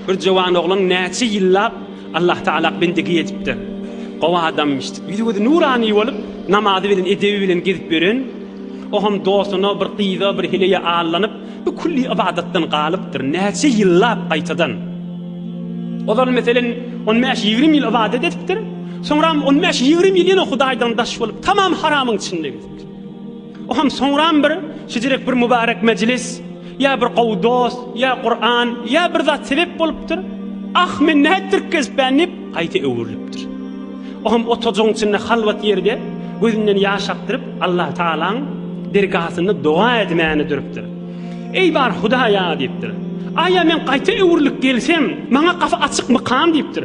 Bir jowan oglan näçe ýyllap Allahtagala bendigi edipdir. Gowy adamymyş. Ýüzi-gözi nurany bolup, namazy bilen, edebi bilen gezip ýören, o hem dostuna, bir gyza, bir heleýe allanyp, bu külli ybadatdan galypdyr. Näçe ýyllap gaýtadan. Ozal, meselem, on bäş, ýigrimi ýyl ybadat edipdir. Soňram on bäş, ýigrimi ýyl ýene Hudaýdan daş bolup, tamam haramyň içinde gezipdir. Oham soňram bir şijirek bir mubarek mejlis ýa bir gowy dost ýa Kuran ýa bir zat sebep bolupdyr. Ah men nätdirip gezipän diýip gaýta öwrülipdir. Oham otajygyň içinde halwat ýerde gözünden ýaş akdyryp Allah Taalaň dergasynda doga edmäne durupdyr. Eý bar Hudaýa diýipdir. Aýa men gaýta öwrülip gelsem maňa gapy açykmykam diýipdir.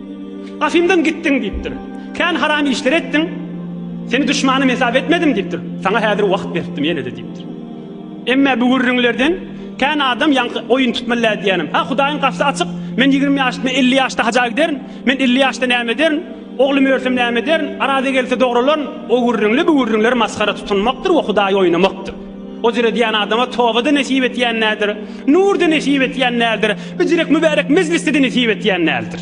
Gafymdan gitdiň diýipdir. Kän haram işler etdiň. Seni duşmanym hesap etmedim diýipdir. Saňa häzir wagt beripdim ýene-de diýipdir. Emme bu gürrüňlerden kän adam ýaňky oýun tutmallär diýýänim. Hä, Hudaýyň gapysy açyk. Men ýigrimi ýaşymda, elli ýaşda haja giderin. Men elli ýaşda näme ederin? Oglum örsem näme ederin? Araza gelse dogralaryn. O gürrüňli, bu gürrüňler masgara tutunmakdyr we Hudaýy oýnamakdyr. Ojur edýän adama toba-da nesip etýän däldir, nur-da nesip etýän däldir, bijirek mübärek mejlis-de nesip etýän däldir.